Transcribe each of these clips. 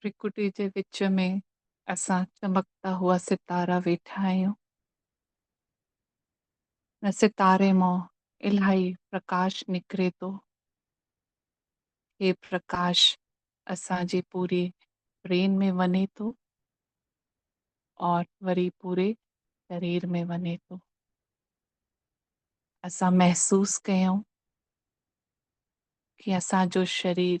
ڀرڪٽي جي وچ ۾ اسان چمڪتا هئا ستارا ويٺا آهيون. هن ستاري مان الاهي پرڪاش نڪري ٿو. هي پرڪاش اسان جي پوري برين ۾ وڃي ٿو اور وري پوري شرير ۾ وڃي ٿو. اسان محسوس ڪيون ڪي اسان جو شرير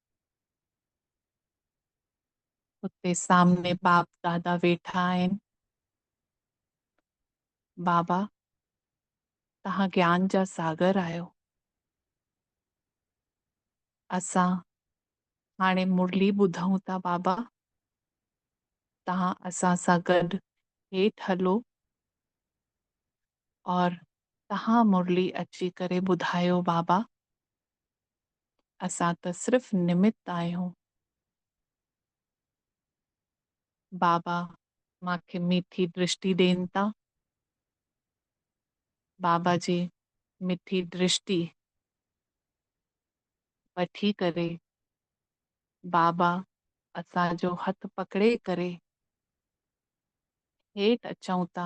اتي سامني باپ دادا ويٺا آهن. بابا توهان گيان جا ساگر آهيو. اسان هاڻي مرلي ٻڌون ٿا بابا. توهان اسان سان گڏ هيٺ هلو. اور تهان مرلي اچي ڪري ٻڌايو بابا اسان ته صرف نمت آهيون. بابا مان کي ميٺي درشٽي ڏين تا. بابا جي مٺي درشٽي وٺي ڪري بابا اسان جو هٿ پڪڙي ڪري هيٺ اچون تا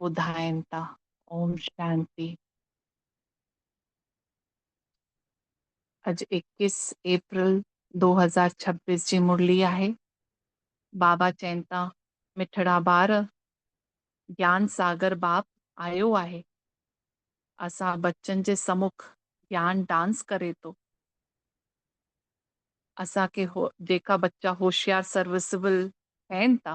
ٻڌائين ٿا. اوم شانتي. اڄ ايڪيس اپريل دو هزار ڇٻيس جي مرلي آهي. بابا چين ٿا مٺڙا ٻار گيان ساگر باب آيو آهي. اسان بچن جي سمک گيان ڊانس ڪري ٿو. اسان کي جيڪا بچا هوشيار سروسبل ٺهين ٿا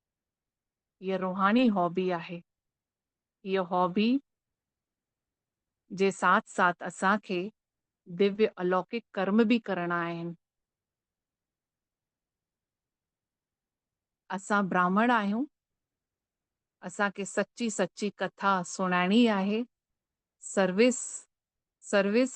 هيء روحاني هابي آهي. هيء هابي جي ساٿ ساٿ اسان کي ديوي الوڪڪ ڪرم به ڪرڻا آهن. اسان براهمڻ آهيون. اسان کي سچي سچي ڪٿا سڻائڻي آهي. سروس، Service،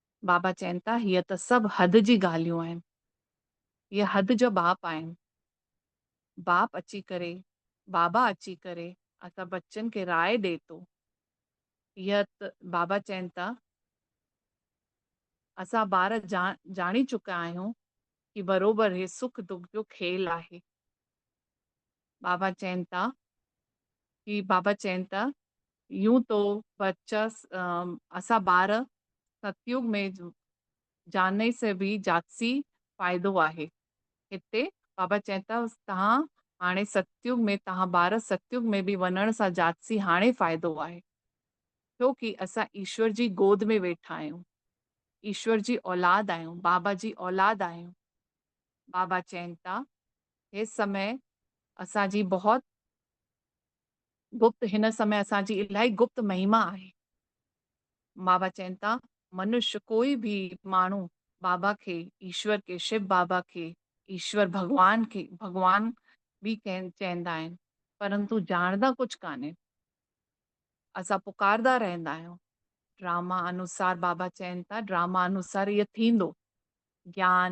بابا چين ٿا هي ته سڀ حد جي ڳالهيون آهن. هي حد جو ٻاپ آهن. ٻاپ اچي ڪري، بابا اچي ڪري اسان بچن کي راء ڏي ٿو. هي ته بابا چين ٿا اسان ٻار ڄاڻي چڪا آهيون هي بروبر هي سک دک جو کيل آهي. بابا چين ٿا هي بابا چين ته يون تو بچه اسا ٻار ستيوگ ۾ جانئي سي به جاتسي فائدو آهي هتي بابا چين ته تهان هاڻي ستيوگ ۾ تهان ٻار ستيوگ ۾ به وڃڻ سان جاتسي هاڻي فائدو آهي ڇو ڪي اسا ايشور جي گود ۾ ويٺا آهيون ايشور جي اولاد آهيون بابا جي اولاد آهيون بابا چين ته هي سمي اسان جي بهت گپت هن سمي اسان جي الاهي گپت مهيما آهي. بابا چين ٿا منش ڪوئي به ماڻهو بابا کي ايشور کي شو بابا کي ايشور ڀڳوان کي ڀڳوان به چئندا آهن پرنتو ڄاڻندا ڪجهه ڪانهن اسان پڪاردا رهندا آهيون ڊراما انوسار بابا چين ٿا ڊراما انوسار ايئن ٿيندو جيان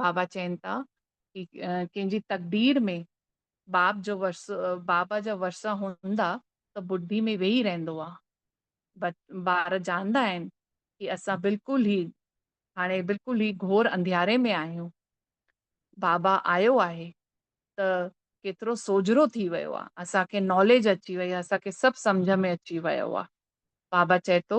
بابا چين ٿا ڪي ڪنهن جي تقدير ۾ باب جو ورثو بابا جا ورثا هوندا ته ٻڍي ۾ ويهي رهندو آ. ٻار جاندا آهن ڪي اسان بلڪل هي هاڻي بلڪل هي گهور انڌياري ۾ آهيون. بابا آيو آهي ته ڪيترو سوجهرو ٿي ويو آ. اسان کي ناليج اچي وئي آ. اسان کي سڀ سمجهه ۾ اچي ويو آ. بابا چئي ٿو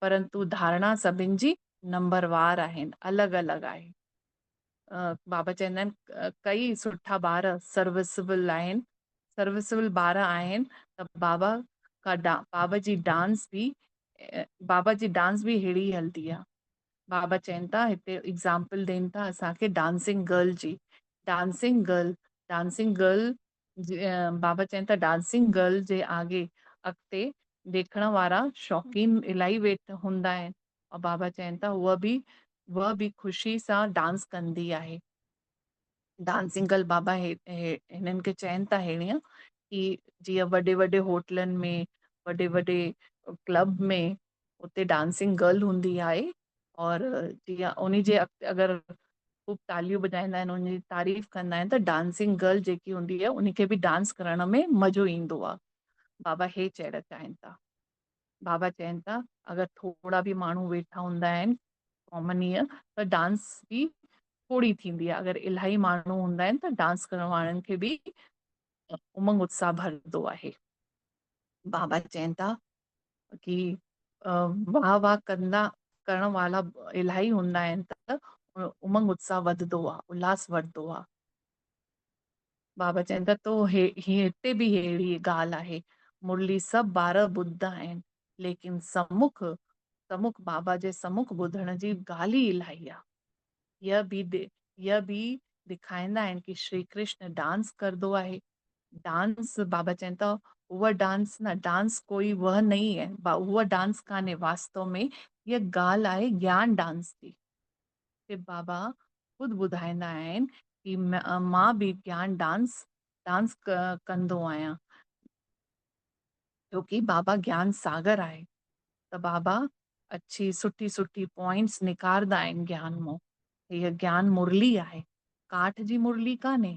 پرنتو ڌارڻا سڀن جي نمبروار آهن، الڳ الڳ آهي. بابا چوندا آهن ڪئي سٺا ٻار سروسبل آهن، سروسبل ٻار آهن ته بابا کا بابا جي ڊانس به بابا جي ڊانس به ههڙي ئي هلندي آهي. بابا چين ٿا هتي ايگزامپل ڏين ٿا اسان کي ڊانسنگ گرل جي ڊانسنگ گرل ڊانسنگ گرل بابا چين ته ڊانسنگ گرل جي آگي اڳتي ڏيکڻ وارا شوقين الائي ويٺ هوندا آهن ۽ بابا چين ته هوء به وه به خوشي سان ڊانس ڪندي آهي. ڊانسنگ گرل بابا هنن کي چين ته هيڻيء ڪي جيئن وڏي وڏي هوٽلن ۾ وڏي وڏي ڪلب ۾ اتي ڊانسنگ گرل هوندي آهي اور جيئن انهي جي اڳتي اگر خوب تاليون وڄائيندا آهن انهي جي تعريف ڪندا آهن ته ڊانسنگ گرل جيڪي هوندي آهي انهي کي به ڊانس ڪرڻ ۾ مزو ايندو آهي بابا هي چئڙ چاهين ٿا بابا چين ٿا اگر ٿورا به ماڻهو ويٺا هوندا آهن ڪامن هيء ته ڊانس به ٿوري ٿيندي آهي اگر الاهي ماڻهو هوندا آهن ته ڊانس ڪرڻ وارن کي به امنگ اتساهه ڀرندو آهي بابا چين ٿا ڪي واھ واھ ڪندا ڪرڻ وارا الاھي ھوندا آھن ته امنگ اتساھ وڌندو آ الھاس وڌندو آ بابا چون ٿا تو ھي ھتي به اھڙي ڳالھ آھي مرلي سڀ ٻار ٻڌندا آھن ليڪن سمک سمک بابا جي سمک ٻڌڻ جي ڳالھ ئي الاھي آ اھا به اھا به ڏيکاريندا آھن ڪي شري ڪرشن ڊانس ڪرندو آھي ڊانس بابا چين ته هو ڊانس نه ڊانس ڪوئي وه نهي هي هو ڊانس ڪانهي واستو ۾ هيء ڳالهه آهي گيان ڊانس جي ته بابا خود ٻڌائيندا آهن ڪي مان به گيان ڊانس ڊانس ڪندو آهيان ڇو ڪي بابا گيان ساگر آهي ته بابا اڇي سٺي سٺي پوائنٽس نکاردا آهن گيان مون هيء گيان مرلي آهي ڪاٺ جي مرلي ڪانهي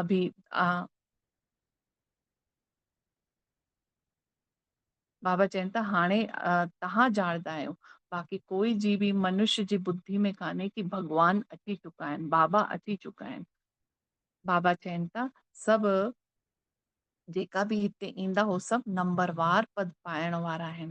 ابي آ. بابا چين ته هاڻي تهان ڄاڻدا آهيو باقي ڪوئي جي به منش جي بڌي ۾ ڪانهي ڪي ڀڳوان اچي چڪا آهن بابا اچي چڪا آهن بابا چين ته سڀ جيڪا به هتي ايندا هو سڀ نمبر وار پد پائڻ وارا آهن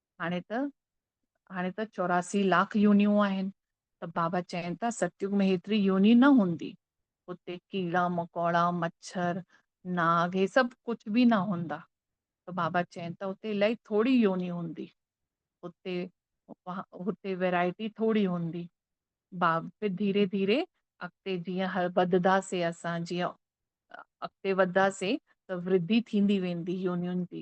هاڻي ته هاڻي ته چوراسي لاک يونيون آهن ته بابا چين ٿا ستيوگ ۾ هيتري يوني نه هوندي اتي ڪيڙا مڪوڙا مڇر ناگ هي سڀ ڪجهه به نه هوندا ته بابا چين ٿا اتي الائي ٿوري يوني هوندي اتي هتي ويرائٽي ٿوري هوندي باب پھر ڌيري ڌيري اڳتي جيئن هر وڌداسي اسان جيئن اڳتي وڌداسي ته وڌي ٿيندي ويندي يونين جي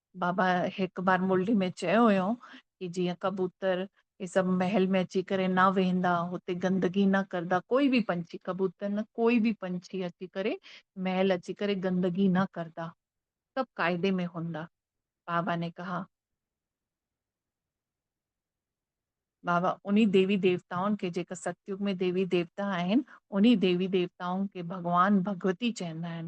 بابا هڪ بار ملڊي ۾ چيو هيو ڪي جيئن ڪبوتر هي سڀ محل ۾ اچي ڪري نه ويهندا هتي گندگي نه ڪردا ڪوئي به پنڇي ڪبوتر نه ڪوئي به پنڇي اچي ڪري محل اچي ڪري گندگي نه ڪردا سڀ قاعدي ۾ هوندا بابا ني ڪها بابا انهي ديوي ديوتائن کي جيڪا ستيوگ ۾ ديوي ديوتا آهن انهي ديوي ديوتائن کي ڀڳوان ڀڳوتي چئندا آهن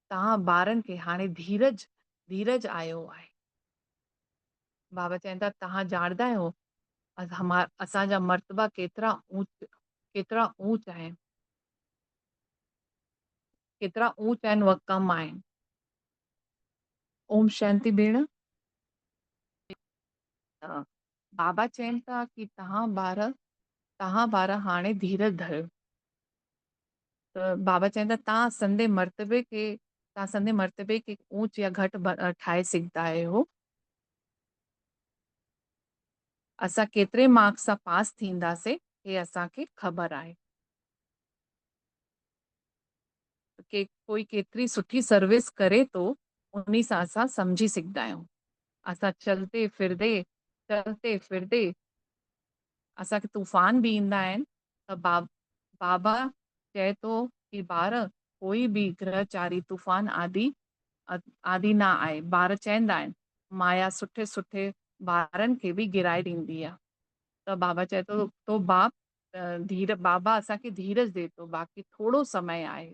توهان ٻارن کي هاڻي ڌيرج ڌيرج آيو آهي. بابا چون ٿا توهان ڄاڻدا آهيو اسان جا مرتبا ڪيترا اونچ ڪيترا اونچ آهن ڪيترا اونچ آهن و ڪم آهن. اوم شانتي ڀيڻ. بابا چون ٿا ڪي توهان ٻار توهان ٻار هاڻي ڌيرج ڌريو. ته بابا چين ٿا تان سندي مرتبي کي تان سندي مرتبي کي اونچ يا گهٽ ٺاهي سگهدا آهيو. اسان ڪيتري مارڪس سان پاس ٿينداسي هي اسان کي خبر آهي. ڪي ڪوئي ڪيتري سٺي سروس ڪري ٿو انهي سان اسان سمجهي سگهدا آهيون. اسان چلتي ڦردي چلتي ڦردي اسان کي طوفان به ايندا آهن ته بابا چئي ٿو ڪي ٻار ڪوئي به گرهه چاري طوفان آدي آدي نه آهي ٻار چئندا آهن مايا سٺي سٺي ٻارن کي به گرائي ڏيندي آهي ته بابا چئي ٿو تو باپ ڌير بابا اسان کي ڌيرج ڏي ٿو باقي ٿورو سمي آهي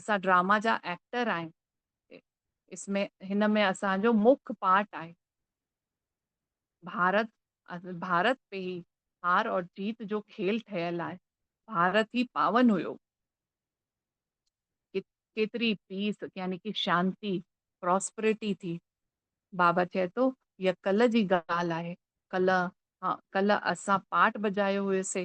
اسان ڊراما جا ايڪٽر آهيون اس ۾ هن ۾ اسان جو مک پارٽ آهي ڀارت ڀارت پي هي هار اور جيت جو کيل ٺهيل آهي ڀارت هي پاون هيو ڪيتري پيس يعني ڪي شانتي پراسپريٽي ٿي بابا چئي ٿو هيء ڪل جي ڳالهه آهي ڪل ڪل اسان پارٽ بجايو هيوسي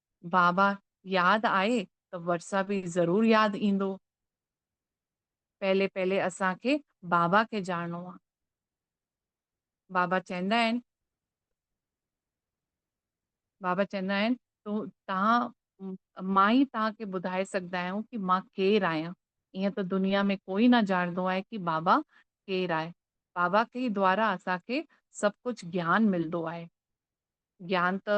بابا ياد آئي ته ورسا به ضرور ياد ايندو. پهلي پهلي اسان کي بابا کي ڄاڻڻو آ. بابا چئندا آهن بابا چئندا آهن تون تهان مان ئي تهان کي ٻڌائي سگهندا آهيون ڪي مان ڪير آهيان. ائين ته دنيا ۾ ڪوئي نه ڄاڻندو آهي ڪي بابا ڪير آهي. بابا کي ئي دوارا اسان کي سڀ ڪجهه گيان ملندو آهي. گيان ته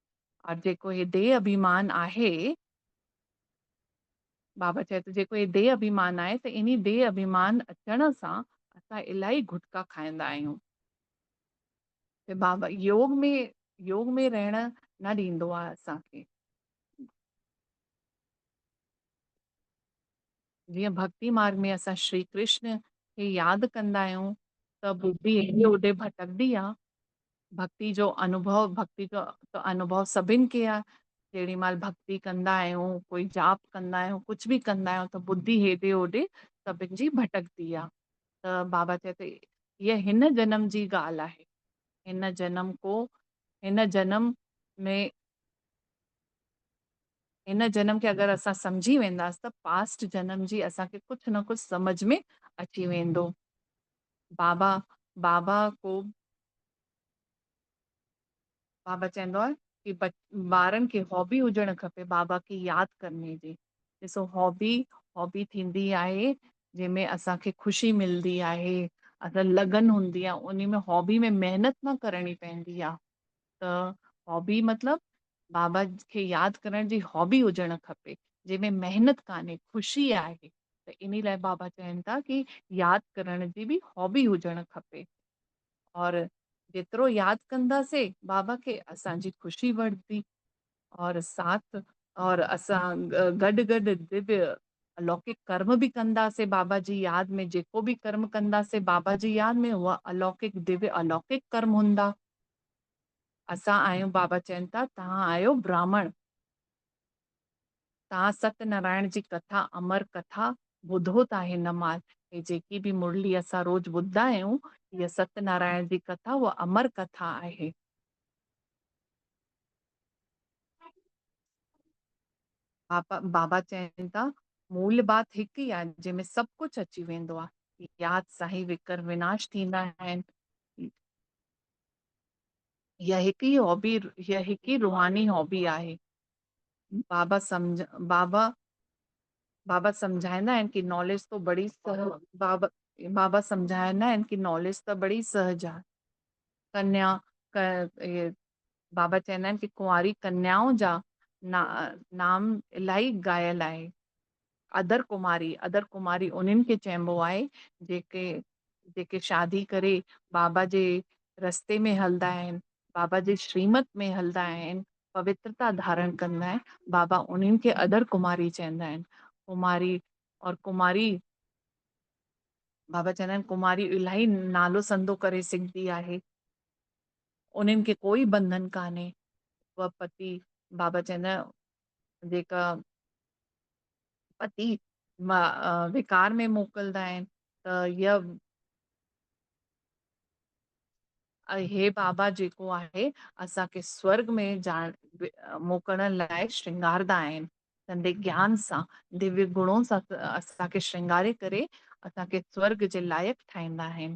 اور جيڪو هي ديھ اڀيمان آهي، بابا چوي ٿو جيڪو هي ديھ اڀيمان آهي ته انهي ديھ اڀيمان اچڻ سان اسان الاهي گهٽڪا کائيندا آهيون. ته بابا يوگ ۾ يوگ ۾ رهڻ نه ڏيندو آهي اسان کي. جيئن ڀڳتي مارگ ۾ اسان شري ڪرشن کي ياد ڪندا آهيون ته ٻڌي هيڏي هوڏي ڀٽڪندي آ. ڀڳتي جو انوڀو، ڀڳتي جو ته انوڀو سڀن کي آ. جيڏي مهل ڀڳتي ڪندا آهيون، ڪوئي جاپ ڪندا آهيون، ڪجهه به ڪندا آهيون ته ٻڌي هيڏي هوڏي سڀن جي ڀٽڪندي آ. ته بابا چئي ٿو هيء هن جنم جي ڳالهه آهي. هن جنم ڪو هن جنم ۾ هن جنم کي اگر اسان سمجهي وينداس ته پاسٽ جنم جي اسان کي ڪجھ نه ڪجھ سمجھ ۾ اچي ويندو بابا بابا ڪو بابا چوندو آهي ڪي ٻارن کي هابي هجڻ کپي بابا کي ياد ڪرني جي ڏسو هابي هابي ٿيندي آهي جنهن ۾ اسان کي خوشي ملندي آهي اسان لگن هوندي آهي انهي ۾ هابي ۾ محنت نه ڪرڻي پوندي آهي ته هابي مطلب بابا کي ياد ڪرڻ جي هابي هجڻ کپي جنهن ۾ محنت ڪانهي خوشي آهي ته انهي لاء بابا چين ٿا ڪي ياد ڪرڻ جي به هابي هجڻ کپي اور جيترو ياد ڪنداسي بابا کي اسان جي خوشي وڙهندي اور ساٿ اور اسان گڏ گڏ دبي الوڪڪ ڪرم به ڪنداسي بابا جي ياد ۾ جيڪو به ڪرم ڪنداسي بابا جي ياد ۾ هو الوڪڪ دبي الوڪڪ ڪرم هوندا اسان آهيون بابا چين ٿا توهان آهيو براهمڻ توهان ست نارائڻ جي ڪٿا امر ڪٿا ٻڌو ٿا هن مال هي جيڪي به مرلي اسان روز ٻڌدا آهيون هيء ست نارائڻ جي ڪٿا اها امر ڪٿا آهي. بابا بابا چين ٿا مول بات هڪ ئي آهي جنهن ۾ سڀ ڪجهه اچي ويندو آهي ياد سائين وڪر وناش ٿيندا آهن هيء هڪ ئي هابي، هيء هڪ ئي روحاني هابي آهي. بابا سمجهه، بابا، بابا سمجهائيندا آهن ڪي ناليج تو بڙي سهج بابا بابا سمجهائيندا آهن ڪي ناليج ته بڙي سهج آهي. ڪنيا ڪ اهي بابا چئندا آهن ڪي ڪنواري ڪنيائون جا نا نام الاهي ڳايل آهي. ادر ڪماري، ادر ڪماري انهن کي چئبو آهي جيڪي جيڪي شادي ڪري بابا جي رستي ۾ هلدا آهن، بابا جي شريمت ۾ هلدا آهن، پوترتا ڌارڻ ڪندا آهن، بابا انهن کي ادر ڪماري چئندا آهن، ڪماري اور ڪماري بابا چئندا آهن ڪماري الاهي نالو سندو ڪري سگهندي آهي، انهن کي ڪوئي بنڌن ڪانهي، و پتي بابا چئندا آهن جيڪا پتي ما وقار ۾ موڪلدا آهن ته هيء هي بابا جيڪو آهي اسان کي سورڳ ۾ جاڻ موڪلڻ لاء شرنگاردا آهن سندي گيان سان ديوي گڻون سان اسان کي شرنگاري ڪري اسان کي سورڳ جي لائق ٺاهيندا آهن.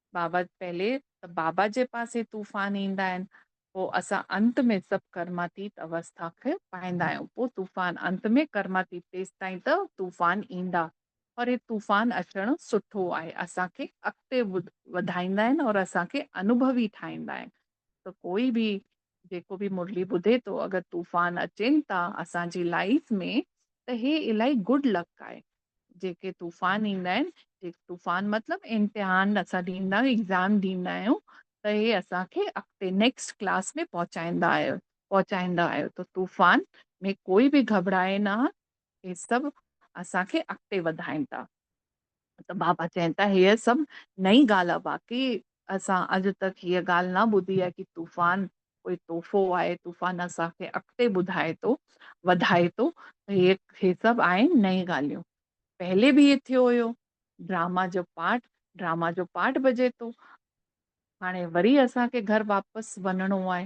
بابا پهلي ته بابا جي پاسي طوفان ايندا آهن پوء اسان انت ۾ سڀ ڪرماتيت اوسٿا کي پائيندا آهيون پوء طوفان انت ۾ ڪرماتيت تيستائين ته طوفان ايندا اور هي طوفان اچڻ سٺو آهي اسان کي اڳتي وڌائيندا آهن اور اسان کي انوڀوي ٺاهيندا آهن ته ڪوئي به جيڪو به مرلي ٻڌي ٿو اگر طوفان اچين ٿا اسانجي لائيف ۾ ته هي الائي گڊ لڪ آهي جيڪي طوفان ايندا آهن جي طوفان مطلب امتحان اسان ڏيندا آهيون اگزام ڏيندا آهيون ته هي اسانکي اڳتي نيڪسٽ ڪلاس ۾ پهچائيندا آهيو پهچائيندا آهيو ته طوفان ۾ ڪوئي به گهٻرائي نه هي سڀ اسان کي اڳتي وڌائين ٿا. ته بابا چين ٿا هيء سڀ نئين ڳالهه آهي باقي اسان اڄ تڪ هيء ڳالهه نه ٻڌي آهي ڪي طوفان ڪوئي تحفو آهي طوفان اسان کي اڳتي ٻڌائي ٿو وڌائي ٿو ته هيء هي سڀ آهن نئين ڳالهيون پهلي به هيء ٿيو هيو ڊراما جو پارٽ ڊراما جو پارٽ بجي ٿو هاڻي وري اسان کي گهر واپس وڃڻو آهي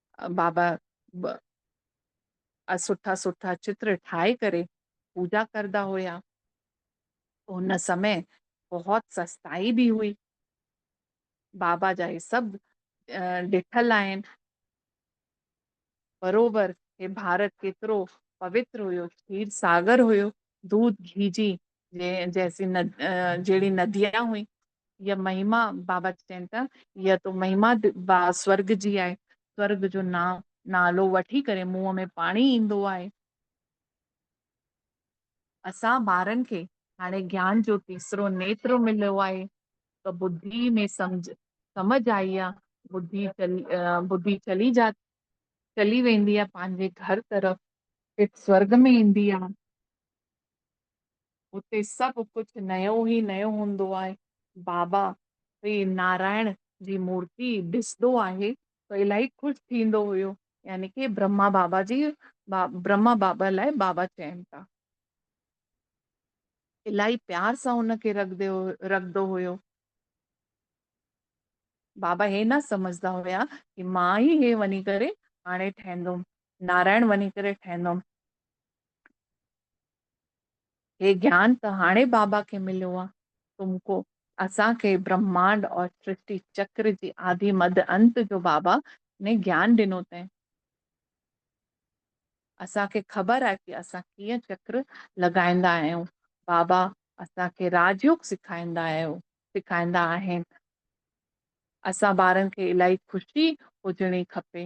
بابا ب ا سٺا سٺا چتر ٺاهي ڪري پوجا ڪردا هيا. هن سمي بهت سستائي به هئي. بابا جا هي سڀ ڏٺل آهن. بروبر هي ڀارت ڪيترو پوتر هيو کير ساگر هيو. دود گهي جي جنهن جيسي ند جهڙي نديا هئي. اها مهما بابت چين ته اها تو مهما با سورگ جي آهي. سورگ جو نا نالو وٺي ڪري منهن ۾ پاڻي ايندو آهي. اسان ٻارن کي هاڻي گيان جو تيسرو نيتر مليو آهي ته ٻڌي ۾ سمجھ سمجھ آئي آهي. ٻڌي چلي ٻڌي چلي جا چلي ويندي آهي پنهنجي گهر طرف. پٽ سورگ ۾ ايندي آهي. اتي سڀ ڪجهه نيو ئي نيو هوندو آهي. بابا سري نارائڻ جي مورتي ڏسندو آهي ته الاهي خوش ٿيندو هيو. يعني ڪي برهما بابا جي برهما بابا لاء بابا چين ٿا. الاهي پيار سان ان کي رکندو هيو. بابا هي نه سمجهندا هيا ڪي مان ئي هي وڃي ڪري هاڻي ٺهندم. نارائڻ وڃي ڪري ٺهندم. هي گيان ته هاڻي بابا کي مليو آ. تم ڪو اسان کي برهمانڊ اور سرشٽي چڪر جي آڌي مڌ انت جو بابا ني گيان ڏنو تين. اسان کي خبر آ ڪي اسان ڪيئن چڪر لڳائيندا آهيون. بابا اسان کي راجيوگ سکائيندا آهيو سکائيندا آهين. اسان ٻارن کي الائي خوشي هجڻي کپي.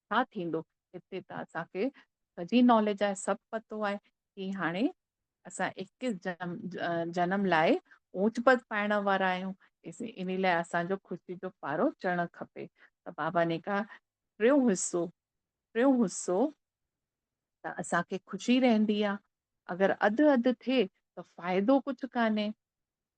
ڇا ٿيندو هتي ته اسان کي سڄي ناليج آهي سڀ پتو آهي ڪي هاڻي اسان اڪيس جنم جنم لاء اوچ پت پائڻ وارا آهيون ان لاء اسان جو خوشي جو پارو چڙهڻ کپي ته بابا ني ڪا ٽيو حصو ٽيو حصو ته اسان کي خوشي رهندي آهي اگر اڌ اڌ ٿئي ته فائدو ڪجهه ڪانهي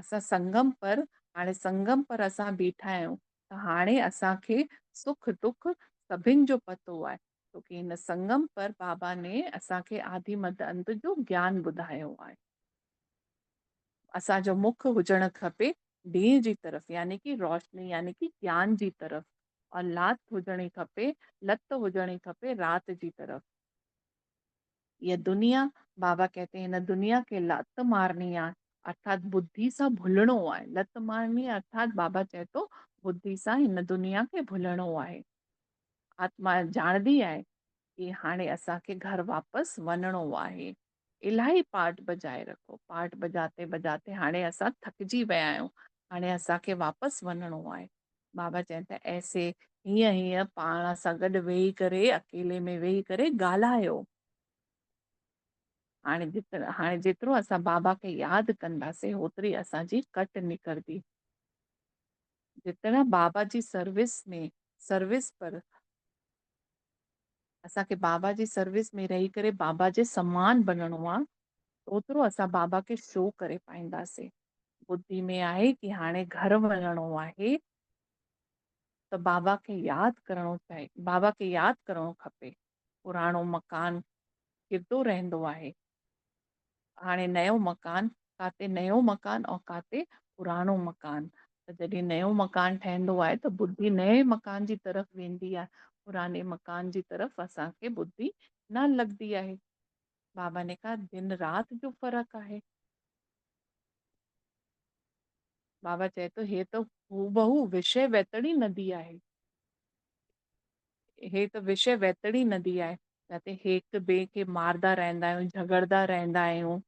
اسان سنگم پر هاڻي سنگم پر اسان بيٺا آهيون ته هاڻي اسان کي سک ڏک سڀن جو پتو آهي ڇو ڪي هن سنگم پر بابا ني اسان کي آڌي مد انت جو گيان ٻڌايو آهي. اسان جو مک هجڻ کپي ڏينهن جي طرف يعني ڪي روشني يعني ڪي گيان جي طرف اور لات هجڻي کپي لت هجڻي کپي رات جي طرف. هيء دنيا بابا ڪهتي هن دنيا کي لت مارڻي آهي ارٿات ٻڌي سان ڀلڻو آهي لت مارڻي ارٿات بابا چئي ٿو ٻڌي سان هن دنيا کي ڀلڻو آهي آتما ڄاڻندي آهي ڪي هاڻي اسان کي گهر واپس وڃڻو آهي الاهي پارٽ بجائي رکو پارٽ بجاتي بجاتي هاڻي اسان ٿڪجي ويا آهيون هاڻي اسان کي واپس وڃڻو آهي بابا چين ته ايسي هينئن هينئن پاڻ سان گڏ ويهي ڪري اڪيلي ۾ ويهي ڪري ڳالهايو. هاڻي جيترو هاڻي جيترو اسان بابا کي ياد ڪنداسين اوتري اسان جي ڪٽ نڪرندي. جتنا بابا جي سروس ۾ سروس پر اسان کي بابا جي سروس ۾ رهي ڪري بابا جي سمان بنڻو آ. اوترو اسان بابا کي شو ڪري پائينداسين. ٻڌي ۾ آهي ڪي هاڻي گهر وڃڻو آهي. ته بابا کي ياد ڪرڻو چاهي بابا کي ياد ڪرڻو کپي. پراڻو مڪان ڪرندو رهندو آهي. هاڻي نيو مڪان ڪاتي نيو مڪان ۽ ڪاتي پراڻو مڪان ته جڏهن نيو مڪان ٺهندو آهي ته ٻڌي نئين مڪان جي طرف ويندي آهي پراڻي مڪان جي طرف اسان کي ٻڌي نه لڳندي آهي بابا ني ڪها دن رات جو فرق آهي بابا چئي ٿو هي ته هوبهو وشي ويتڙي ندي آهي هي ته وشيه ويتڙي ندي آهي. جتي هڪ ٻئي کي ماردا رهندا آهيون، جهڳڙدا رهندا آهيون.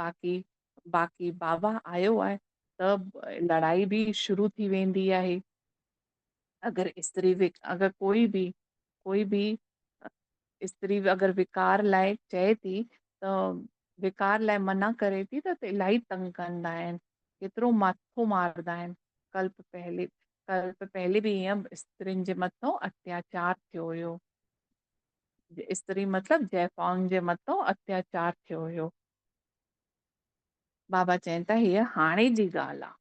باقي باقي بابا آيو آهي ته لڙائي به شروع ٿي ويندي آهي. اگر استري اگر ڪوئي به ڪوئي به استري به اگر وقار لاء چئي ٿي ته وقار لاء منع ڪري ٿي ته الاهي تنگ ڪندا آهن ڪيترو مٿو ماردا آهن ڪلپ پهلي ڪلپ پهلي به ائين استرين جي مٿو اتياچار ٿيو هيو استري مطلب جيفائن جي مٿو اتياچار ٿيو هيو بابا چين ته هيء هاڻي جي ڳالهه آ.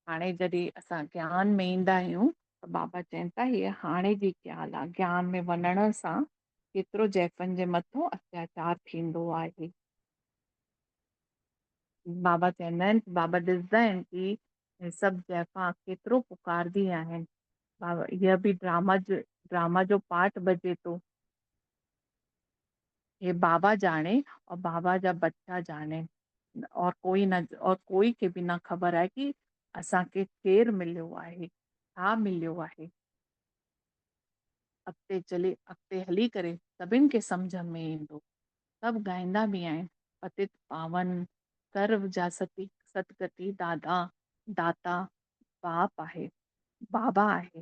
هاڻي جڏهن اسان گيان ۾ ايندا آهيون. ته بابا چين ته هيء هاڻي جي ڳالهه آ. گيان ۾ وڃڻ سان ڪيترو زيفن جي مٿو اتياچار ٿيندو آهي. بابا چوندا آهن ته بابا ڏسندا آهن ڪي سڀ زيفان ڪيترو پڪاردي آهن. بابا هيء به ڊراما جو ڊراما جو پارٽ بجي ٿو. هي بابا ڄاڻي اور بابا جا بچا ڄاڻي. اور ڪوئي نه اور ڪوئي کي به نه خبر آهي ڪي اسان کي ڪير مليو آهي ڇا مليو آهي. اڳتي چلي اڳتي هلي ڪري سڀن کي سمجهه ۾ ايندو. سڀ ڳائيندا به آهن پتت پاون سرو جا ستي ستگتي دادا داتا باپ آهي بابا آهي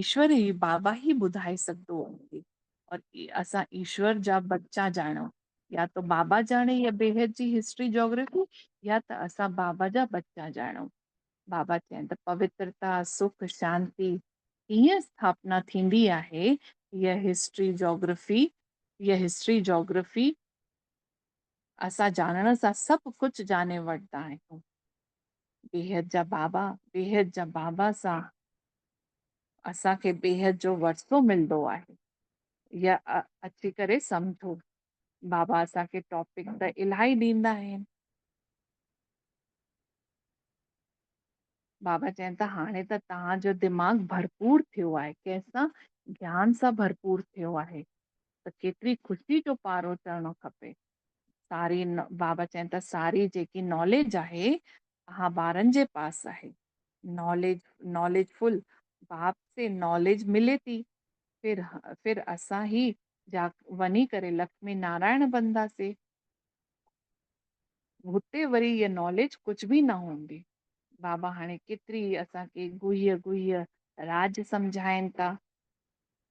ايشور هي بابا هي ٻڌائي سگهندو آهي اور اسان ايشور جا بچا جاڻو يا ته بابا جاڻي هي بيهد جي هسٽري جاگرافي يا ته اسان بابا جا بچا جاڻو بابا چين ته پوترتا سک شانتي ڪيئن اسٿاپنا ٿيندي آهي هي هسٽري جاگرافي هي هسٽري جاگرافي اسان جاڻڻ سان سڀ ڪجهه جاني وٺندا آهيون بيحد جا بابا، بيحد جا بابا سان اسان کي بيحد جو ورثو ملندو آهي. يا اچي ڪري سمجهو. بابا اسان کي ٽاپڪ ته الاهي ڏيندا آهن. بابا چون ته هاڻي ته توهان جو دماغ ڀرپور ٿيو آهي ڪنهن سان گيان سان ڀرپور ٿيو آهي ته ڪيتري خوشي جو پارو چڙهڻو کپي ساري بابا چين ته ساري جيڪي ناليج آهي اها ٻارن جي پاس آهي ناليج ناليج فل باپ سي ناليج ملي ٿي فر فر اسان هي جا وڃي ڪري لکمي نارائڻ بندا سي هتي وري هي ناليج ڪجھ به نه هوندي بابا هاڻي ڪيتري اسان کي گوهي گوهي راج سمجهائين ٿا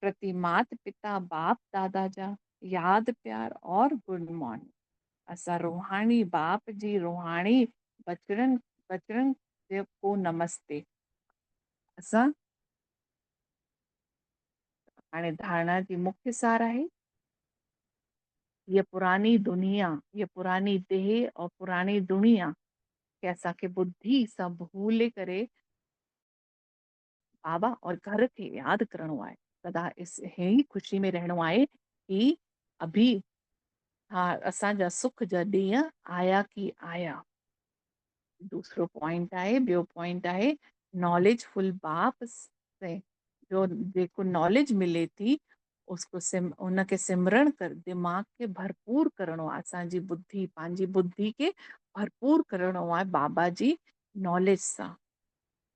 پرتي مات پتا باپ دادا جا ياد پيار اور گڊ مارننگ اسان روحاني باپ جي روحاني ٻچڙن ٻچڙن کو نمستي اسان هاڻي ڌارڻا جي مکي سار آهي هيء پراني دنيا هيء پراني ديهه اور پراني دنيا کي اسان کي ٻڌي سان ڀولي ڪري بابا اور گهر کي ياد ڪرڻو آهي، سدا اس هي ئي خوشي ۾ رهڻو آهي ڪي ابهي ها اسان جا سک جا ڏينهن آيا ڪي آيا. دوسرو پوائنٽ آهي ٻيو پوائنٽ آهي ناليج فل باپ سي جو جيڪو ناليج ملي ٿي اس کو سم ان کي سمرڻ ڪر دماغ کي ڀرپور ڪرڻو آهي اسان جي ٻڌي پنهنجي ٻڌي کي ڀرپور ڪرڻو آهي بابا جي ناليج سان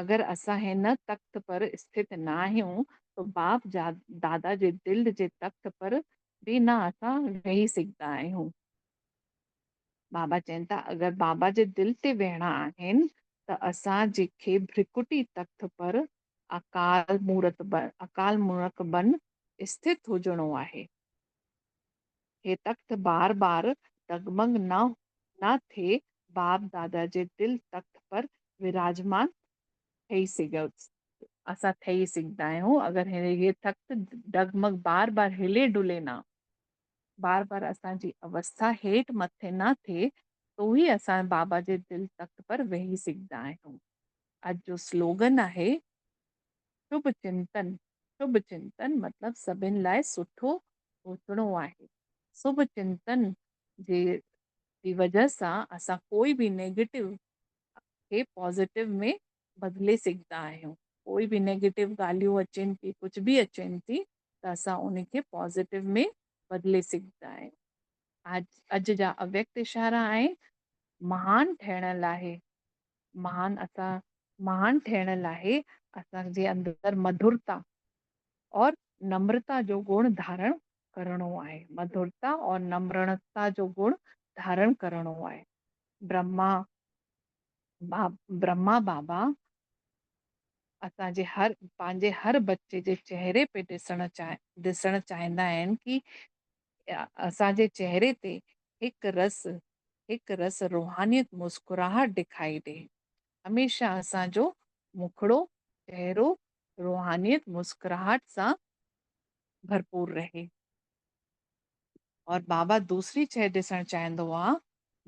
اگر اسان هن تخت پر اسٿت نه آهيون ته باپ دادا جي دل جي تخت پر به نه اسان ويهي سگهندا آهيون. بابا چين ٿا اگر بابا جي دل تي ويهڻا آهن ته اسان جي کي ڀرڪٽي تخت پر اڪال مورت اڪال مورک بن اسٿت هجڻو آهي. هي تخت بار بار ڊگمگ نه نه ٿئي، باب دادا جي دل تخت پر وراجمان ٿئي سگهيس. اسان ٿئي سگهندا آهيون اگر هي تخت ڊگمگ بار بار هلي ڊلي نه، بار بار اسان جي اوسٿا هيٺ مٿي نه ٿئي تو ئي اسان بابا جي دل تخت پر ويهي سگهندا آهيون. اڄ جو سلوگن آهي شڀ چنتن شڀ چنتن مطلب سڀن لاء سٺو سوچڻو آهي. سڀ چنتن جي جي وجه سان اسان ڪوئي به نيگيٽو کي پازيٽو ۾ بدلي سگهندا آهيون. ڪوئي به نيگيٽو ڳالهيون اچين ٿي ڪجهه به اچين ٿي ته اسان ان کي پازيٽو ۾ بدلي سگهندا آهيون. آج اڄ جا اويڪت اشارا آهن مهان ٺهڻ لاهي مهان اسان مهان ٺهڻ لاهي اسان جي اندر مڌرتا اور نمرتا جو گڻ ڌارڻ ڪرڻو آهي. مڌرتا اور نمرتا جو گڻ ڌارڻ ڪرڻو آهي. برهما برهما بابا اسان جي هر پنهنجي هر بچي جي چهري پي ڏسڻ چاهي ڏسڻ چاهيندا آهن ڪي اسان جي چهري تي هڪ رس هڪ رس روحانيت مسڪراهٽ ڏيکائي ڏي هميشه اسان جو مکڙو چهرو روحانيت مسڪراهٽ سان ڀرپور رهي اور بابا دوسري شئي ڏسڻ چاهيندو آ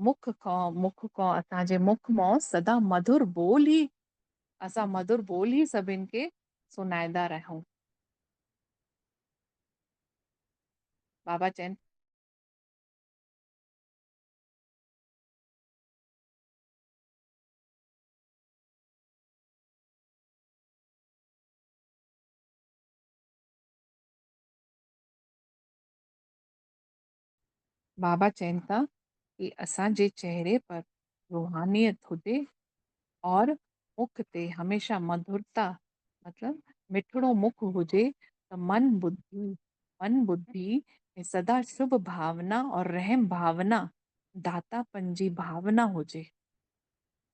مک کان مک کان اسان جي مک مان سدا مڌر ٻول ئي اسان مڌر ٻول ئي سڀن کي سنائيندا رهون بابا چين بابا چين ٿا ڪي اسان جي چهري پر روحانيت هجي اور مک تي هميشه مڌرتا مطلب مٺڙو مک هجي ته من ٻڌي من ٻڌي ۾ سدا شڀ ڀاونا اور رحم ڀاونا، داتاپن جي ڀاونا هجي.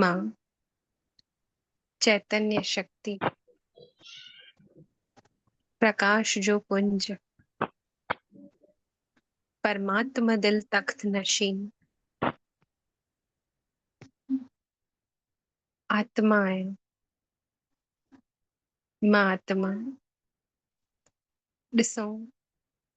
مان چئتنيه شڪتي، پرڪاش جو پنج، پرماتما دل تخت نشين، آتما آهيان، مان آتما، ڏسون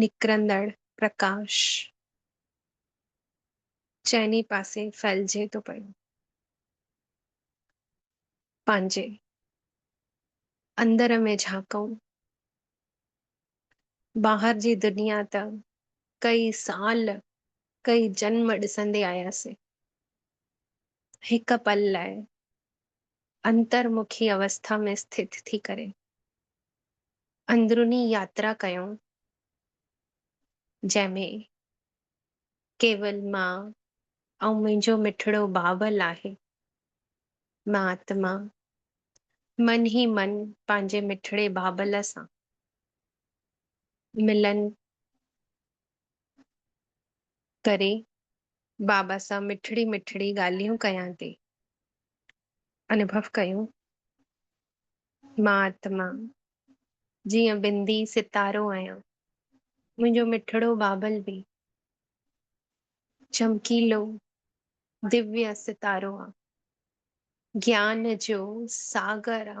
نڪرندڙ پرڪاش چئني پاسي ڦهلجي ٿو پيو. پنهنجي اندر ۾ جهانڪون. ٻاهر جي دنيا ته ڪئي سال، ڪئي جنم ڏسندي آياسين. هڪ پل لاء انترمکي اوسٿا ۾ اسٿت ٿي ڪري اندروني ياترا ڪيون جنهن ۾ ڪيول مان ۽ منهنجو مٺڙو بابل آهي. مان آتما من هي من پنهنجي مٺڙي بابل سان ملن ڪري بابا سان مٺڙي مٺڙي ڳالهيون ڪيان ٿي. انوڀو ڪيون مان آتما جيئن بندي ستارو آهيان، منهنجو مٺڙو بابل به چمڪيلو ديويه ستارو آ، گيان جو ساگر آ،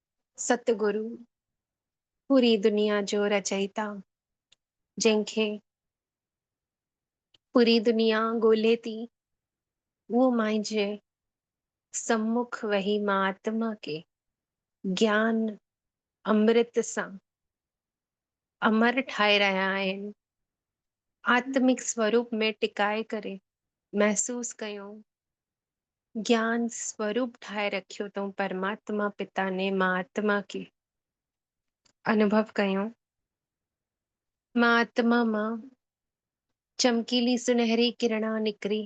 ست گرو، پوري دنيا جو رچئيتا، جنهن کي پوري دنيا ڳولهي ٿي، اهو مائنجي سمک ويهي مان آتما کي گيان امرت سان امر ٺاهي رهيا آهن. آتمڪ سوروپ ۾ ٽڪائي ڪري محسوس ڪيو گيان سوروپ ٺاهي رکيو تئون پرماتما پتا ني مهاتما کي انوڀو ڪيو. مهاتما مان چمڪيلي سنهري ڪرڻان نڪري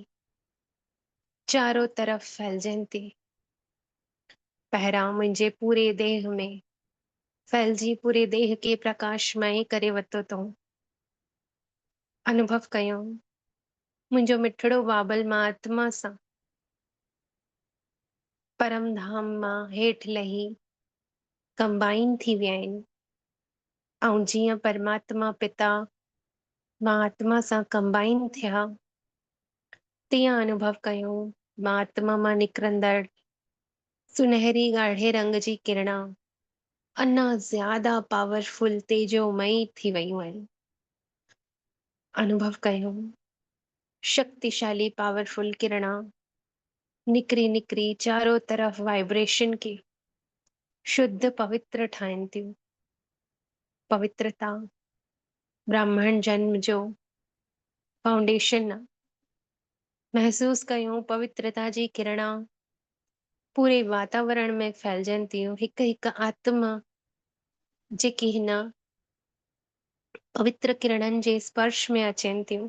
چارو طرف ڦهلجن ٿي. پهران منهنجي پوري ديهه ۾ ڦهلجي پوري ديهه کي پرڪاشمئي ڪري وتو تئون. انوڀو ڪيوم منهنجو مٺڙو بابل مان آتما سان پرم ڌام مان هيٺ لهي ڪمبائين ٿي ويا آهن ۽ جيئن پرماتما پتا مان آتما سان ڪمبائين ٿيا تيئن انوڀو ڪيوم مان آتما مان نڪرندڙ سنهري ڳاڙهي رنگ جي ڪرڻا اڃا زياده پاورفل تيجومئي ٿي ويون آهن. انوڀو ڪيو. شڪتيشالي پاورفل ڪرڻا نڪري نڪري چارو طرف وائبريشن کي شڌ پوتر ٺاهين ٿيون. پوترتا براهمڻ جنم جو فائونڊيشن آ. محسوس ڪيو پوترتا جي ڪرڻا پوري واتاورڻ ۾ ڦهلجن ٿيون هڪ هڪ آتما جيڪي هن پوتر ڪرڻن جي اسپرش ۾ اچين ٿيون،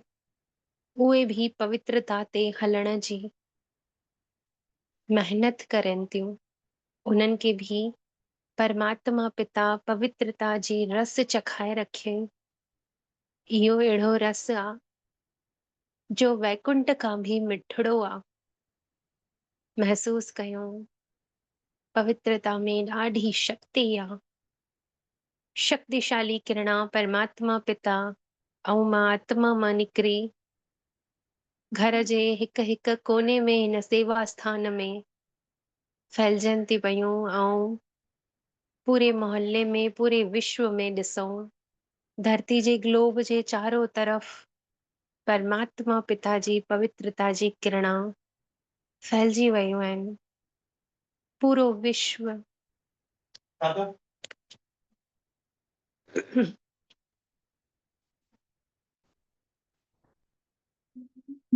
اهي به پوترتا تي هلڻ جي محنت ڪرين ٿيون، انهن کي به پرماتما پتا پوترتا جي رس چکائي رکيائين، اهو اهڙو رس آ، جو ويڪنٽ کان به مٺڙو آ، محسوس ڪيو، پوترتا ۾ ڏاڍي شڪتي آ، شڪتيشالي ڪرڻا پرماتما پتا ائون مان آتما مان نڪري گهر جي هڪ هڪ ڪوني ۾ هن سيوا آسٿان ۾ ڦهلجن ٿي پيون ۽ پوري محلي ۾ پوري وشو ۾ ڏسون ڌرتي جي گلوب جي چارو طرف پرماتما پتا جي پوترتا جي ڪرڻا ڦهلجي ويون آهن پورو وشو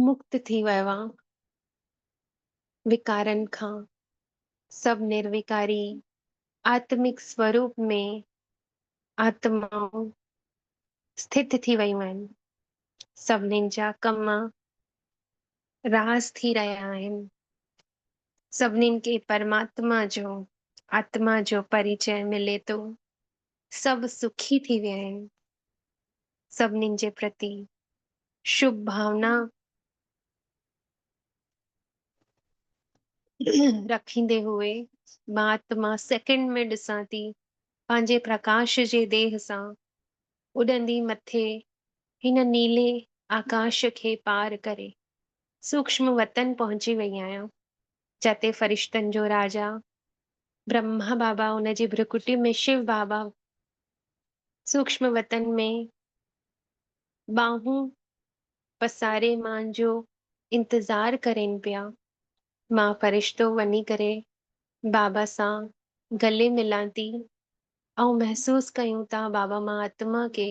مڪت ٿي ويو آ وڪارن کان، سڀ نروڪاري آتمڪ سوروپ ۾ آتمائون سٿت ٿي ويون آهن، سڀنين جا ڪم راس ٿي رهيا آهن. سڀني کي پرماتما جو آتما جو پريچئ ملي ٿو. سڀ سکي ٿي ويا آهن. سڀني جي پرتي شڀ ڀاونا رکيندي هئي مان آتما سيڪنڊ ۾ ڏسان ٿي پنهنجي پرڪاش جي ديهه سان اڏندي مٿي هن نيلي آڪاش کي پار ڪري سوڪشم وطن پهچي وئي آهيان، جتي فرشتن جو راجا برهما بابا ان جي ڀرڪٽي ۾ شو بابا سوڪشم وطن ۾ ٻانهون پساري مانجو انتظار ڪرين پيا. مان فرشتو وڃي ڪري بابا سان گلي ملان ٿي. آئون محسوس ڪيون ته بابا مان آتما کي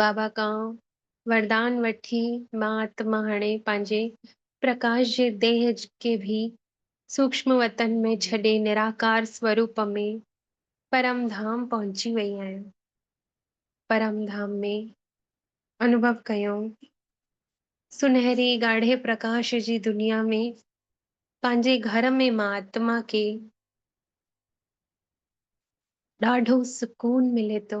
بابا کان وردان وٺي مان آتما هڻي پنهنجي پرڪاش جي ديهه کي به سوڪشم وتن ۾ ڇڏي نراڪار سوروپ ۾ پرم ڌام پهچي وئي آهيان. پرم ڌام ۾ انوڀو ڪيو سنهري ڳاڙهي پرڪاش جي دنيا ۾ پنهنجي گهر ۾ مان آتما کي ڏاڍو سڪون ملي ٿو.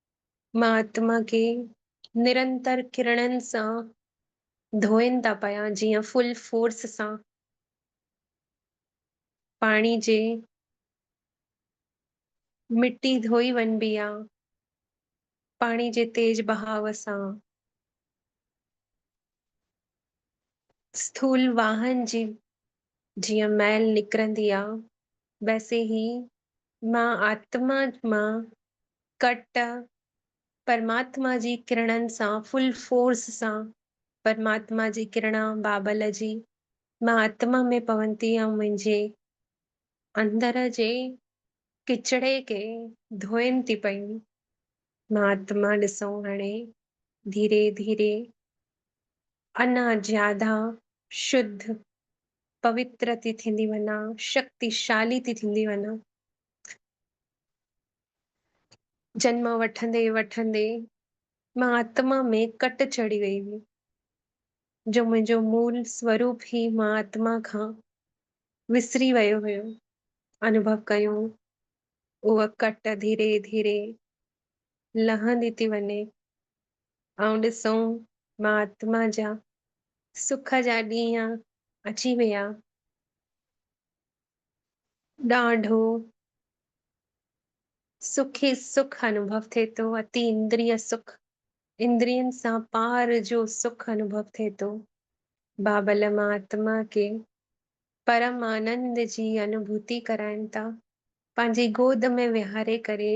مان آتما کي نرنتر ڪرڻن سان ڌوئين ٿا پيان جيئن فل فورس سان پاڻي جي مٽي ڌوئي وڃبي آ پاڻي جي تيز بهاء سان اسٿول واهن جي جيئن ميل نڪرندي آ ويسي هي مان آتما مان ڪٽ پرماتما جي ڪرڻن سان فل فورس سان پرماتما جي ڪرڻا بابل جي مان آتما ۾ پون ٿي ۽ منهنجي اندر جي ڪچڙي کي ڌوئن ٿي پيون مان آتما ڏسون هاڻي ڌيري ڌيري اڃا زياده شڌ پوتر ٿي ٿيندي وڃان، شڪتيشالي ٿي ٿيندي وڃان. جنم وٺندي وٺندي مان آتما ۾ ڪٽ چڙهي وئي هئي، جو منهنجو مول سوروپ ئي مان آتما کان وسري ويو هيو. انوڀو ڪيو اها ڪٽ ڌيري ڌيري لهندي ٿي وڃي. آئون ڏسئون مان آتما جا سک جا ڏينهن اچي ويا. ڏاڍو سکي سک انوڀو ٿئي ٿو، اتي اندريه سک، اندرين سان پار جو سک انوڀو ٿئي ٿو. بابل مان آتما کي پرم آنند جي انوڀوتي ڪرائين ٿا. پنهنجي گود ۾ ويهاري ڪري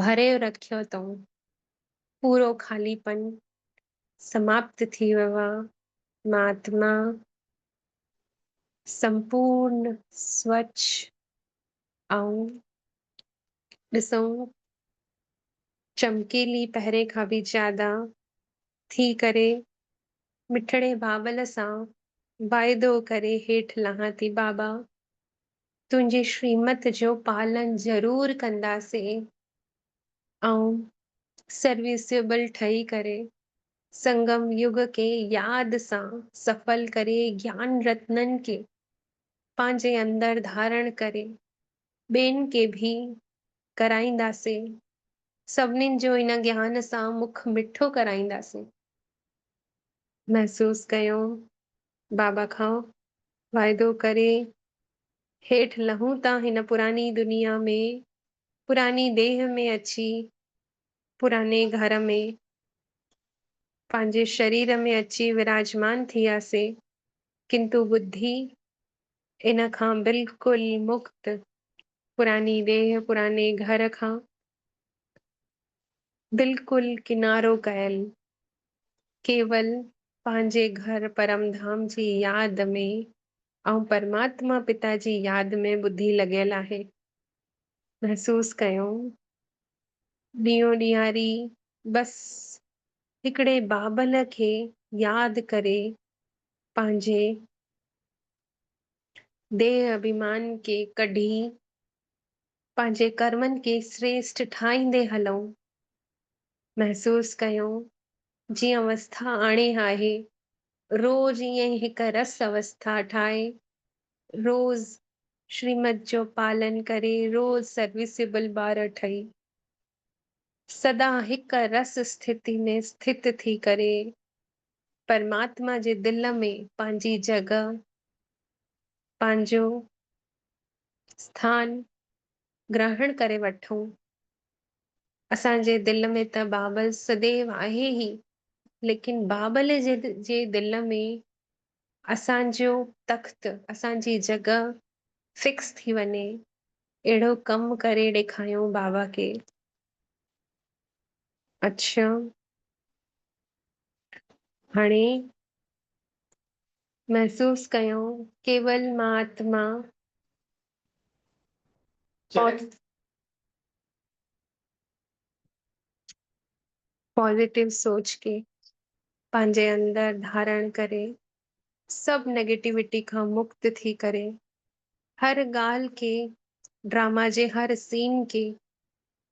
ڀري رکيو تئون، پورو خاليپن سماپت ٿي ويو آ، مان آتما سمپورن سوچ آئون، ڏسئون چمڪيلي پهرين کان به زياده ٿي ڪري، مٺڙي بابل سان واعدو ڪري هيٺ لهان ٿي، بابا! تنهنجي شريمت جو پالن ضرور ڪنداسين. آئون سروسيبل ٺهي ڪري سنگم يگ کي ياد سان سڦل ڪري گيان رتنن کي پنهنجي اندر ڌارڻ ڪري ٻين کي به ڪرائينداسين. سڀني جو ان گيان سان مک مٺو ڪرائينداسين. محسوس ڪيو بابا کان واعدو ڪري هيٺ لهون ته هن پراني دنيا ۾ پراني ديهه ۾ اچي پراني گهر ۾ پنهنجي شرير ۾ اچي وراجمان ٿياسي ڪنتو ٻڌي ان کان بلڪل مڪت پراني ديهه پراني گهر کان بلڪل ڪنارو ڪيل ڪيول پنهنجي گهر پرمڌام جي ياد ۾ ۽ پرماتما پتا جي ياد ۾ ٻڌي لڳيل آهي. محسوس ڪيو ڏينهون ڏينهاري بس هڪڙي بابل کي ياد ڪري پنهنجي ديهه اڀيمان کي ڪڍي پنهنجي ڪرمن کي سريسٽ ٺاهيندي هلئون. محسوس ڪيون جي اوسٿا آڻي آهي. روز ائين هڪ رس اوسٿا ٺاهي، روز شريمت جو پالن ڪري، روز سروسيبل ٻار ٺهي، سدا هڪ رس اسٿتي ۾ اسٿت ٿي ڪري، پرماتما جي دل ۾ پنهنجي جڳهه، پنهنجو اسٿان گرهڻ ڪري وٺون. اسان جي دل ۾ ته بابل سديو آهي ئي ليڪن بابل جي دل ۾ اسان جو تخت، اسان جي جڳهه فڪس ٿي وڃي اهڙو ڪم ڪري ڏيکايون بابا کي. اڇا هاڻي محسوس ڪيو ڪيول مان آتما پوت پازيٽو سوچ کي پنهنجي اندر ڌارڻ ڪري سڀ نيگيٽيوٽي کان مڪت ٿي ڪري هر ڳالهه کي ڊراما جي هر سين کي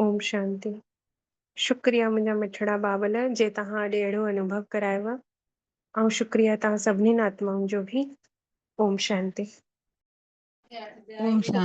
اوم شانتي. شڪريا منهنجا مٺڙا ٻاٻل جي توهان اڄ اهڙو انوڀو ڪرايو آ ۽ شڪريا توهان سڀنين آتمائن جو به. اوم شانتي. اوم شانتي.